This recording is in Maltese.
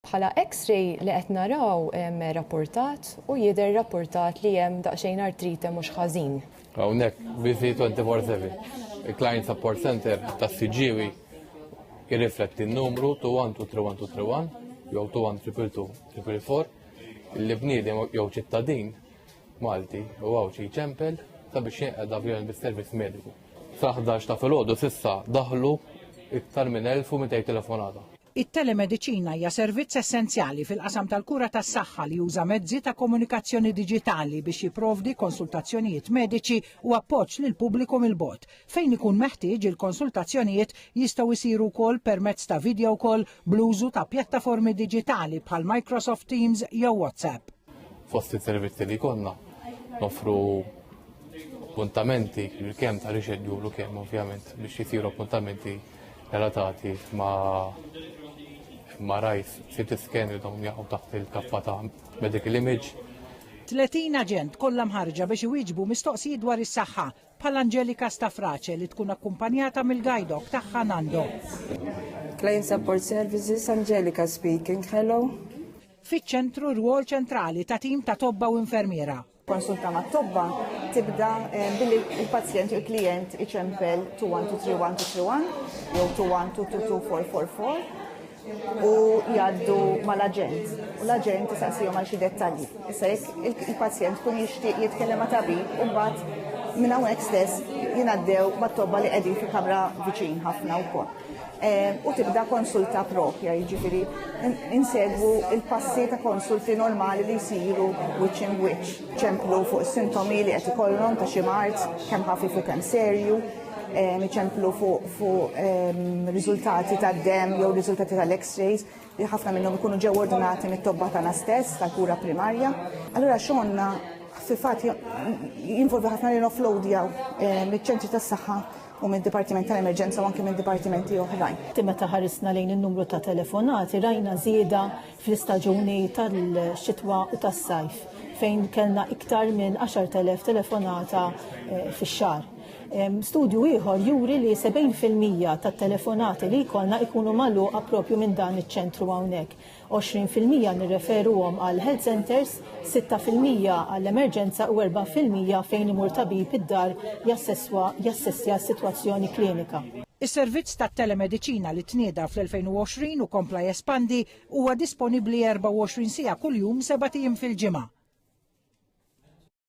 Bħala X-ray li qed naraw rappurtat u jidher rappurtat li hemm daqsxejn artrite mhux ħażin. Hawnhekk busy 24/7. Il-Client Support Center tas-Siġġiewi jirrifletti n-numru 212331 jew 2122244 li bniedem jew ċittadin Malti u Għawdxi ċempel sabiex jenqed avjon bis-servizz mediku. Sa 11 ta' filgħodu s'issa daħlu iktar minn 1200 telefonata. It-telemediċina hija servizz essenzjali fil-qasam tal-kura tas-saħħa li juża mezzi ta' komunikazzjoni diġitali biex jipprovdi konsultazzjonijiet mediċi u appoġġ lill-pubbliku mill-bogħod. Fejn ikun meħtieġ, il-konsultazzjonijiet jistgħu jsiru wkoll permezz ta' video call bl-użu ta' pjattaformi diġitali bħal Microsoft Teams jew WhatsApp. Fost is-servizzi li konna nofru appuntamenti kemm ta' rixedjulu kemm ovvjament biex jisiru appuntamenti relatati ma' ma' rajs sit scan li dawn jaqgħu taħt il-kaffa ta' medical image. 30 aġent kollha mħarrġa biex iwieġbu mistoqsijiet dwar is-saħħa, bħal Angelica Stafrace li tkun akkumpanjata mill-guide dog tagħha Nando. Client Support Services, Angelica speaking, hello. fiċ-ċentru rwol ċentrali ta' tim ta' tobba u infermiera. Konsulta ma' tobba tibda eh, billi il-pazjent u l-klient iċempel 21231 jew 2122444 u jgħaddu mal-aġent. U l-aġent jisaqsijom għal xi dettalji. Issa jekk il-pazjent kun jixtieq jitkellem ma' tabib u mbagħad minn hawnhekk stess jingħaddew mat-tobba li qegħdin fi kamra viċin ħafna wkoll. Eh, u tibda konsulta propja, jiġifieri insegwu il-passi ta' konsulti normali li jsiru which in which. ċemplu fuq sintomi li qed ikollhom ta' xi mart, kemm ħafif u kemm serju, eh, ċemplu fuq ehm, riżultati ta' dem jew riżultati tal-x-rays li ħafna minnhom ikunu ġew ordinati mit-tobba tagħna stess tal-kura primarja. Allura xonna fil-fatt jinvolvi ħafna li noflowdjaw eh, miċ-ċentri tas-saħħa u mid-Dipartiment tal-Emerġenza u anke minn dipartimenti oħrajn. Meta ħarisna lejn in-numru ta' telefonati rajna żieda fl-istaġuni tal-xitwa u tas-sajf fejn kellna iktar minn 10,000 telefonata eh, fix-xahar. Studju ieħor juri li 70% tat-telefonati li jkollna jkunu magħluqa propju minn dan iċ-ċentru hawnhekk. 20 fil-mija nirreferuhom għal health centres, sitta fil-mija għall-emerġenza u erba' fil-mija fejn imur tabib id-dar jassesswa jassessja s-sitwazzjoni klinika. Is-servizz tat-telemediċina li tnieda fl-2020 u kompla jespandi huwa disponibbli 24 siegħa kuljum sebat ijiem fil-ġimgħa.